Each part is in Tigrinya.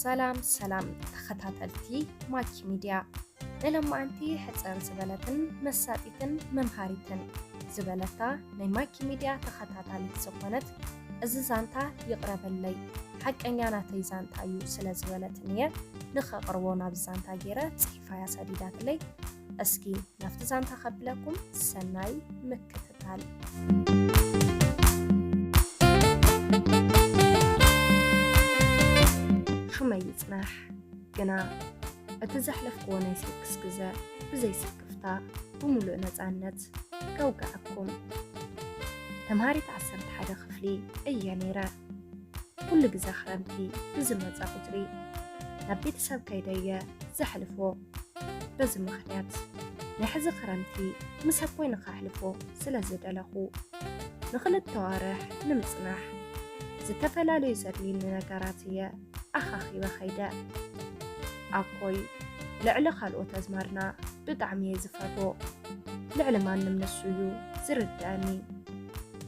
ሰላም ሰላም ተኸታተልቲ ማኪ ሚድያ ንሎማዓንቲ ሕፅር ዝበለትን መሳጢትን መምሃሪትን ዝበለታ ናይ ማኪ ሚድያ ተኸታታሊት ዝኾነት እዚ ዛንታ ይቕረበለይ ሓቀኛ ናተይ ዛንታ እዩ ስለ ዝበለትኒ እየ ንኸቕርቦ ናብ ዛንታ ገይረ ክፋያ ሰዲዳትለይ እስኪ ናብቲ ዛንታ ከብለኩም ሰናይ ምክትታል ሹመይ ይፅናሕ ግና እቲ ዘሕለፍክዎ ናይ ስክስ ግዘ ብዘይ ስክፍታ ብምሉእ ነፃነት ከውግዐኩም ተምሃሪት ዓሰርተ ሓደ ክፍሊ እየ ነይረ ኩሉ ግዘ ክረምቲ ብዝመፀ ቁፅሪ ናብ ቤተሰብ ከይደየ ዘሕልፎ በዚ ምክንያት ናይ ሕዚ ክረምቲ ምስ ኣቦይ ንከሕልፎ ስለ ዝደለኹ ንክልተ ዋርሕ ንምፅናሕ ዝተፈላለዩ ዘድልዩኒ ነገራት እየ ኣኻኺበ ከይደ ኣኮይ ልዕሊ ካልኦት ኣዝማድና ብጣዕሚ እየ ዝፈርቦ ልዕሊ ማንም ንሱ እዩ ዝርድኣኒ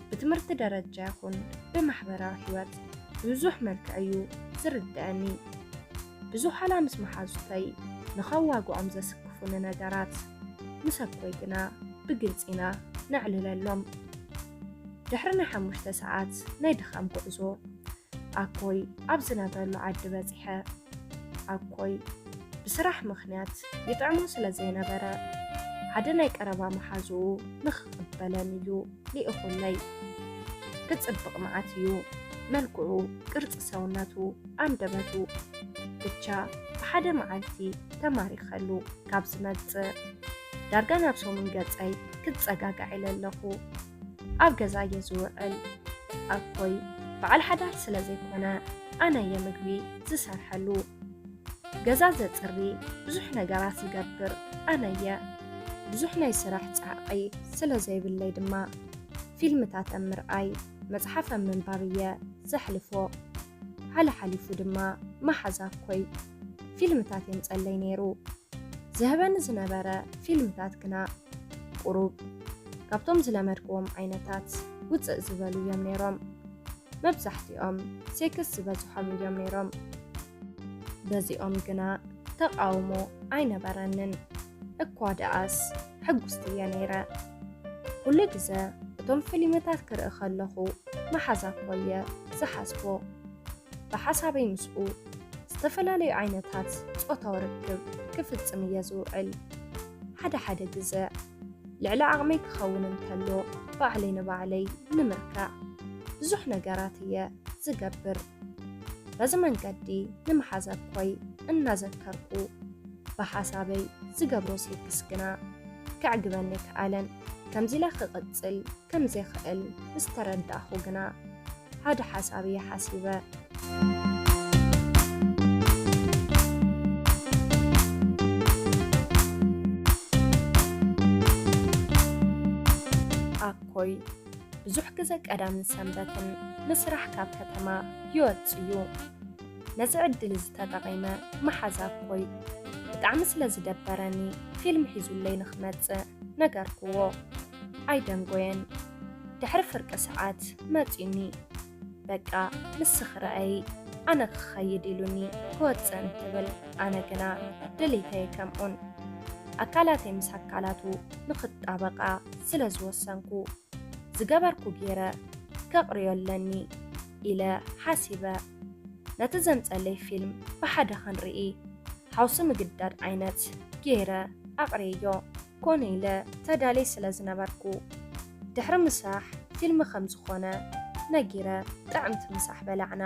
ብትምህርቲ ደረጃ ይኹን ብማሕበራዊ ሕይወት ብብዙሕ መልክዕ እዩ ዝርድኣኒ። ብዙሓላ ምስ መሓዙተይ ንኸዋግኦም ዘስክፉኒ ነገራት ምስ ኣቦይ ግና ብግልፂ ኢና ነዕልለሎም። ድሕሪ ናይ ሓሙሽተ ሰዓት ናይ ድኻም ጉዕዞ ኣኮይ ኣብ ዝነብረሉ ዓዲ በፂሐ። ኣኮይ ብስራሕ ምኽንያት ይጥዕሞ ስለ ዘይነበረ፣ ሓደ ናይ ቀረባ መሓዝኡ ንኽቕበለን እዩ ልኢኹለይ። ክጽብቕ መዓት እዩ፣ መልክዑ፣ ቅርጺ ሰውነቱ፣ ኣንደበቱ። ብቻ ብሓደ መዓልቲ ተማሪኸሉ ካብ ዝመጽእ፣ ዳርጋ ናብ ሰሙን ገጸይ ክጸጋጋዕ ኢለ ኣለኹ። ኣብ ገዛ እየ ዝውዕል ኣኮይ በዓል ሓዳር ስለ ዘይኮነ ኣነ እየ ምግቢ ዝሰርሐሉ ገዛ ዘፅሪ ብዙሕ ነገራት ዝገብር ኣነ እየ ብዙሕ ናይ ስራሕ ፃዕቒ ስለ ዘይብለይ ድማ ፊልምታት ኣብ ምርኣይ መፅሓፍ ኣብ ምንባብ እየ ዘሕልፎ ሓለሓሊፉ ድማ መሓዛ እኮይ ፊልምታት የምጸለይ ነይሩ። ዝህበኒ ዝነበረ ፊልምታት ግና ቁሩብ ካብቶም ዝለመድክዎም ዓይነታት ውጽእ ዝበሉ እዮም ነይሮም። መብዛሕትኦም ሴክስ ዝበዝሖም እዮም ነይሮም። በዚኦም ግና ተቓውሞ ኣይነበረንን። እኳ ደኣስ ሕጉስቲ እየ ነይረ። ኩሉ ግዘ እቶም ፊልምታት ክርኢ ከለኹ መሓዛ እኮ እየ ዝሓስቦ። ብሓሳበይ ምስኡ ዝተፈላለዩ ዓይነታት ፆታዊ ርክብ ክፍፅም እየ ዝውዕል። ሓደ ሓደ ግዘ ልዕሊ ዓቕመይ ክኸውን እንተሎ ባዕለይ ንባዕለይ ንምርካዕ ብዙሕ ነገራት እየ ዝገብር። በዚ መንገዲ ንመሓዘኮይ እናዘከርኩ ብሓሳበይ ዝገብሮ ሴክስ ግና ከዕግበኒ ኣይከኣለን። ከምዚ'ለ ክቕጽል ከምዘይክእል ምስ ተረዳእኩ ግና ሓደ ሓሳብ እየ ሓሲበ። ኣኮይ! ብዙሕ ግዘ ቀዳምን ሰንበትን ንስራሕ ካብ ከተማ ይወፅእ እዩ። ነዚ ዕድል እዚ ተጠቒመ መሓዛ ኣኮይ ብጣዕሚ ስለ ዝደበረኒ ፊልም ሒዙለይ ንክመፅእ ነገርክዎ። ኣይደንጎየን። ድሕሪ ፍርቂ ሰዓት መፂኡኒ። በቃ ንስኺ ርኣዪ ኣነ ክኸይድ ኢሉኒ ክወፅእ እንትብል ኣነ ግና ድሌተይ ከምኡን ኣካላተይ ምስ ኣካላቱ ንኽጣበቃ ስለ ዝወሰንኩ ዝገበርኩ ገይረ ከቕርዮ ኣለኒ ኢለ ሓሲበ ነቲ ዘምፀለይ ፊልም ብሓደ ክንርኢ ሓውሲ ምግዳድ ዓይነት ገይረ ኣቕሬዮ ኮነ ኢለ ተዳልየ ስለ ዝነበርኩ ድሕሪ ምሳሕ ፊልም ከም ዝኾነ ነጊረ ጥዕምቲ ምሳሕ በላዕና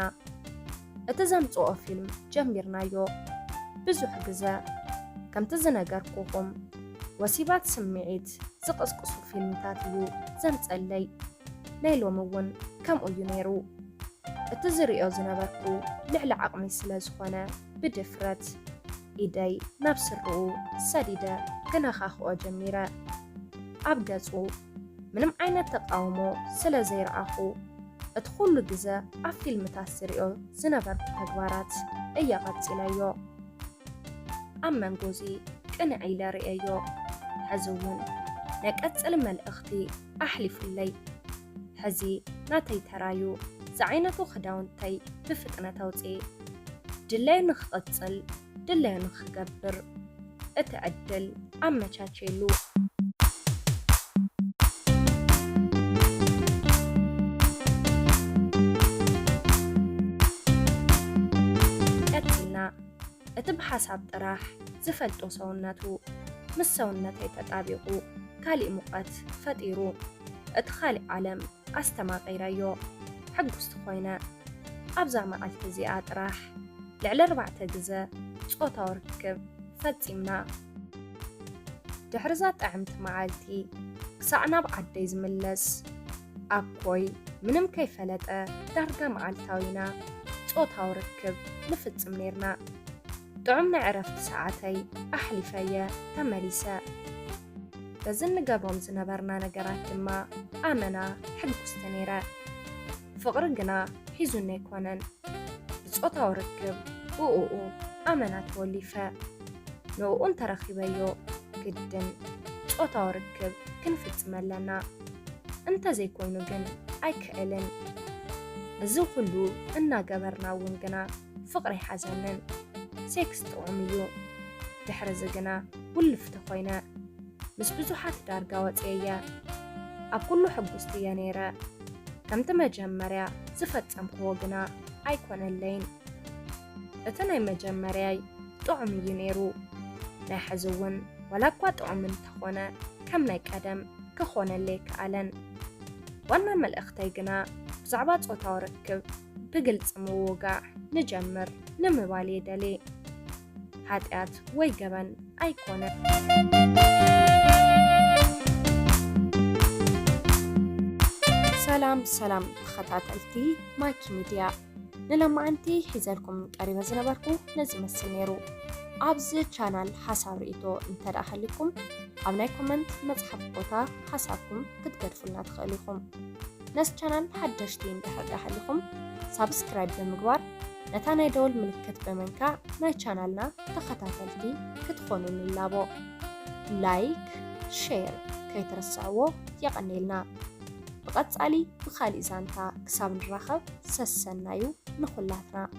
እቲ ዘምጽኦ ፊልም ጀሚርናዮ ብዙሕ ግዘ ከምቲ ዝነገርኩኹም ወሲባት ስምዒት ዝቕስቅሱ ፊልምታት እዩ ዘምጸለይ ናይ ሎሚ እውን ከምኡ እዩ ነይሩ እቲ ዝሪኦ ዝነበርኩ ልዕሊ ዓቕመይ ስለ ዝኾነ ብድፍረት ኢደይ ናብ ስረኡ ሰዲደ ክነኻኽኦ ጀሚረ። ኣብ ገጹ ምንም ዓይነት ተቓውሞ ስለ ዘይረኣኹ፣ እቲ ኩሉ ግዘ ኣብ ፊልምታት ዝሪኦ ዝነበርኩ ተግባራት እየ ቀጺለዮ። ኣብ መንጎዚ ቅንዕ ኢለ ሪኤዮ። ሕዚ እውን ናይ ቀጽሊ መልእኽቲ ኣሕሊፉለይ። ሕዚ ናተይ ተራ'ዩ፣ ዝዓይነቱ ክዳውንተይ ብፍጥነት ኣውጽኤ። ድላዩ ንኽቕጽል ድላዩ ንኽገብር እቲ ዕድል ኣመቻችየሉ። ቀጺልና እቲ ብሓሳብ ጥራሕ ዝፈልጦ ሰውነቱ ምስ ሰውነተይ ተጣቢቑ። ካሊእ ሙቐት ፈጢሩ እቲ ካሊእ ዓለም ኣስተማቒረዮ ሕጉስቲ ኮይነ ኣብዛ መዓልቲ እዚኣ ጥራሕ ልዕሊ ኣርባዕተ ግዘ ፆታዊ ርክብ ፈፂምና ድሕሪዛ ጥዕምቲ መዓልቲ ክሳዕ ናብ ዓደይ ዝምለስ ኣኮይ ምንም ከይፈለጠ ዳርጋ መዓልታዊና ፆታዊ ርክብ ንፍፅም ነይርና። ጥዑም ናይ ዕረፍቲ ሰዓተይ ኣሕሊፈ'የ ተመሊሰ። በዚ እንገብሮም ዝነበርና ነገራት ድማ ኣመና ሕጉስቲ ነይረ። ፍቕሪ ግና ሒዙኒ ኣይኮነን። ብጾታዊ ርክብ ብእኡ ኣመና ተወሊፈ። ንእኡ እንተ ረኺበዮ ግድን ጾታዊ ርክብ ክንፍጽም ኣለና። እንተ ዘይኮይኑ ግን ኣይክእልን። እዚ ኹሉ እናገበርና'ውን ግና ፍቕሪ ይሓዘንን ሴክስ ጥዑም እዩ ድሕርዚ ግና ውልፍቲ ኮይነ ምስ ብዙሓት ዳርጋ ወጽየየ ኣብ ኩሉ ሕጉስቲ እየ ነይረ ከምቲ መጀመርያ ዝፈጸምክዎ ግና ኣይኮነለይን እቲ ናይ መጀመርያይ ጥዑም እዩ ነይሩ ናይ ሕዚ እውን ዋላ እኳ ጥዑም እንተኾነ ከም ናይ ቀደም ክኾነለይ ከኣለን ዋና መልእኽተይ ግና ብዛዕባ ጾታዊ ርክብ ብግልጺ ምውጋዕ ንጀምር ንምባል እየ ደልየ። ሓጢኣት ወይ ገበን ኣይኮነን። ሰላም ሰላም ተኸታተልቲ ማይኪ ሚድያ ንሎማዓንቲ ሒዘልኩም ቀሪበ ዝነበርኩ ነዚ ይመስል ነይሩ። ኣብዚ ቻናል ሓሳብ ርኢቶ እንተደኣ ሃልዩኩም ኣብ ናይ ኮመንት መፅሓፍ ቦታ ሓሳብኩም ክትገድፉልና ትኽእሉ ኢኹም። ነዚ ቻናል ሓደሽቲ እንድሕር ድኣ ሃሊኹም ሳብስክራይብ ብምግባር ነታ ናይ ደወል ምልክት ብምንካእ ናይ ቻናልና ተኸታተልቲ ክትኾኑ ንላቦ። ላይክ ሼር ከይትርስዕዎ የቐኔልና። ብቐጻሊ ብኻሊእ ዛንታ ክሳብ ንራኸብ ሰሰናዩ ንኹላትና።